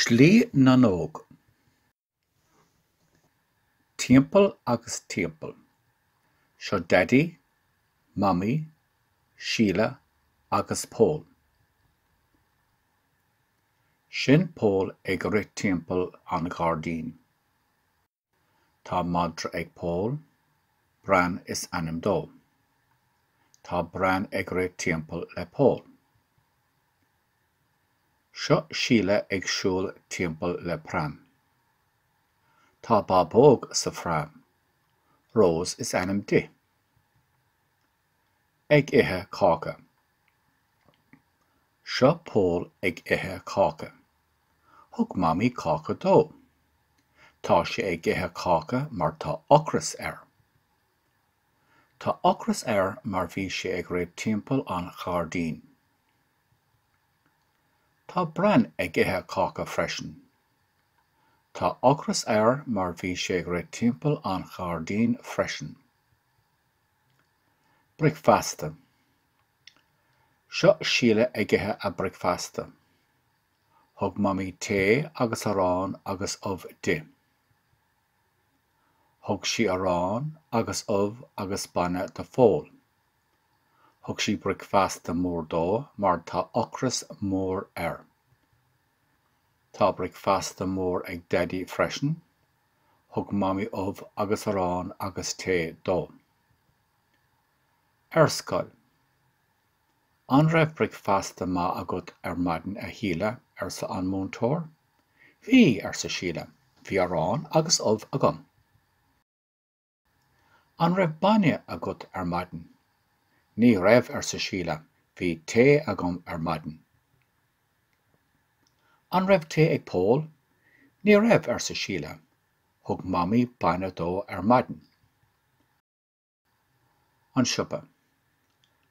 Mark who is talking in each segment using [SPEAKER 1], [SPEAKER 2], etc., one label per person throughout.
[SPEAKER 1] Slí na nÓg. Timpeall agus timpeall. Seo Daidí, Mamaí, Síle agus Pól. Sin Pól ag rith timpeall an ghairdín. Tá madra ag Pól. Bran is ainm dó. Tá Bran ag rith timpeall le Pól. Seo Síle ag siúl timpeall le pram. Tá bábóg sa phram. Róis is ainm di. ag ithe cáca. Seo Pól ag ithe cáca. Thug Mamaí cáca dó. Tá sé ag ithe cáca mar tá ocras air. Tá ocras air mar bhí sé ag rith timpeall an ghairdín. Tá Bran ag ithe cáca freisin. Tá ocras air mar bhí sé ag rith timpeall an ghairdín freisin. Bricfeasta. Seo Síle ag ithe a bricfeasta. Thug Mamaí tae agus arán agus ubh di. Thug sí arán agus ubh agus bainne do Phól. Thug sí bricfeasta mór dó mar tá ocras mór air. Tá bricfeasta mór ag Daidí freisin. Thug Mamaí ubh agus arán agus tae dó. Ar scoil. An raibh bricfeasta maith agat ar maidin a Shíle? arsa an múinteoir. Bhí, arsa Síle. Bhí arán agus ubh agam. An raibh bainne agat ar maidin? Ní raibh arsa Síle, bhí tae agam ar maidin. An raibh tae ag Pól? Ní raibh arsa Síle, thug mamaí bainne dó ar maidin. An siopa.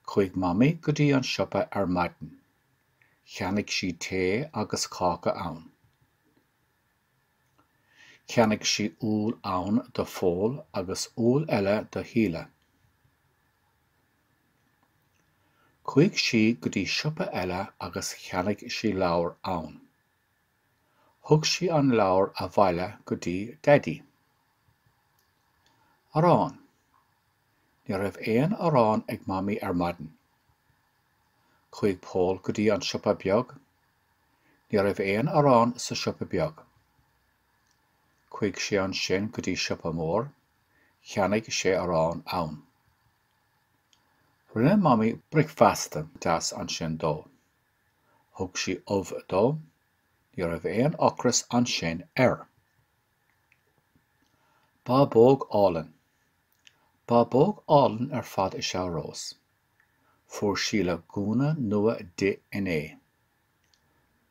[SPEAKER 1] Chuaigh mamaí go dtí an siopa ar maidin. Cheannaigh sí tae agus cáca ann. Cheannaigh sí úll ann do Phól agus úll eile do Shíle. Chuaigh sí go dtí siopa eile agus cheannaigh sí leabhar ann. Thug sí an leabhar abhaile go dtí Daidí. Arán. Ní raibh aon arán ag Mamaí ar maidin. Chuaigh Pól go dtí an siopa beag. Ní raibh aon arán sa siopa beag. Chuaigh sé ansin go dtí siopa mór. Cheannaigh sé arán ann. Rinne Mamaí bricfeasta deas ansin dó. Thug sí ubh dó. Ní raibh aon ocras ansin air. Bábóg álainn. Bábóg álainn ar fad is ea Rós. Fuair Síle gúna nua di inné.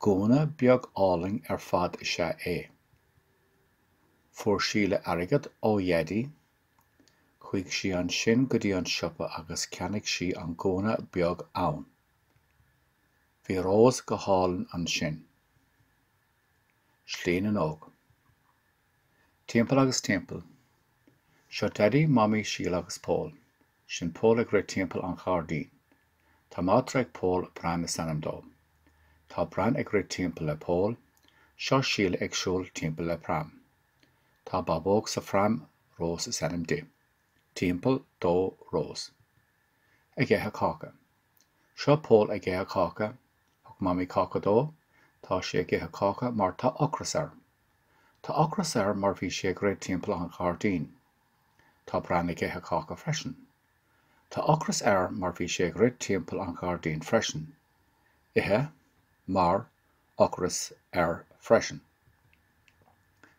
[SPEAKER 1] Gúna beag álainn ar fad is ea é. Fuair Síle airgead ó Dhaidí. Chuaigh sí ansin go dtí an siopa agus cheannaigh sí an gúna beag ann. Bhí Rós go hálainn ansin. Slí na nÓg. Timpeall agus timpeall. Seo Daidí, Mamaí, Síle agus Pól. Sin Pól ag rith timpeall an ghairdín. Tá madra ag Pól, Bran is ainm dó. Tá Bran ag rith timpeall le Pól. Seo Síle ag siúl timpeall le pram. Tá bábóg sa phram, Rós is ainm di. Timpeall, dó, Rós. Ag ithe cáca. Seo Pól ag ithe cáca. Thug Mamaí cáca dó. Tá sé ag ithe cáca mar tá ocras air. Tá ocras air mar bhí sé ag rith timpeall an ghairdín. Tá Bran ag ithe cáca freisin. Tá ocras air mar bhí sé ag rith timpeall an ghairdín freisin. ithe, mar, ocras, air, freisin.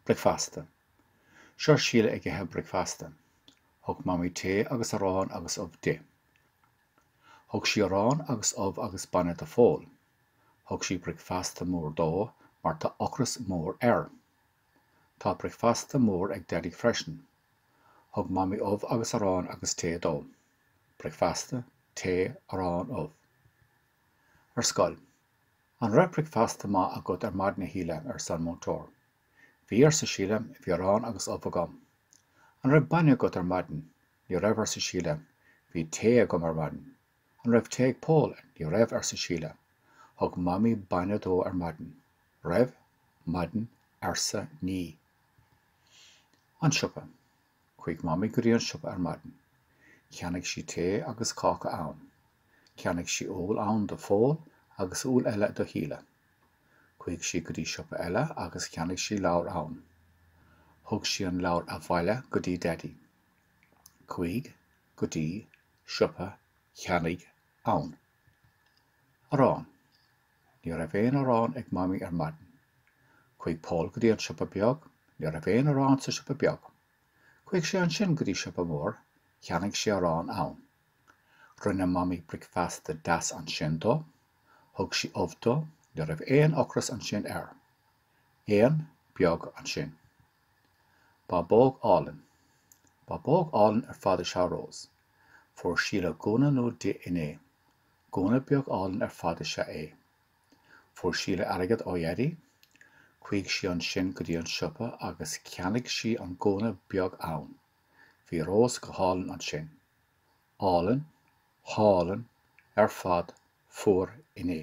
[SPEAKER 1] bricfeasta, Seo Síle ag ithe bricfeasta. Thug Mamaí tae agus arán agus ubh di. Thug sí arán agus ubh agus bainne do Phól. Thug sí bricfeasta mór dó mar tá ocras mór air. Tá bricfeasta mór ag Daidí freisin. Thug Mamaí ubh agus arán agus tae dó. Bricfeasta, tae, arán, ubh. Ar scoil. An raibh bricfeasta maith agat ar maidin, a Shíle? arsa an múinteoir. Bhí, arsa Síle, bhí arán agus ubh agam. An raibh bainne agat ar maidin? Ní raibh, arsa Síle, bhí tae agam ar maidin. An raibh tae ag Pól? Ní raibh, arsa Síle. Thug Mamaí bainne dó ar maidin. Raibh, maidin, arsa, ní. An siopa. Chuaigh Mamaí go dtí an siopa ar maidin. Cheannaigh sí tae agus cáca ann. Cheannaigh sí úll ann do Phól agus úll eile do Shíle. Chuaigh sí go dtí siopa eile agus cheannaigh sí leabhar ann. Thug sí an leabhar abhaile go dtí Daidí. Chuaigh go dtí. siopa cheannaigh ann. Arán Ní raibh aon arán ag Mamaí ar maidin. Chuaigh Pól go dtí an siopa beag. Ní raibh aon arán sa siopa beag. Chuaigh sé ansin go dtí siopa mór. Cheannaigh sé arán ann. Rinne Mamaí bricfeasta deas ansin dó. Thug sí ubh dó. Ní raibh aon ocras ansin air. Aon, beag, ansin. Bábóg álainn. Bábóg álainn ar fad is ea Rose. Fuair Síle gúna nua di inné. Gúna beag álainn ar fad is ea é. Fuair Síle airgead ó Dhaidí. Chuaigh sí ansin go dtí an siopa agus cheannaigh sí an gúna beag ann. Bhí Rose go hálainn ansin. Álainn, hálainn, ar fad, fuair, inné.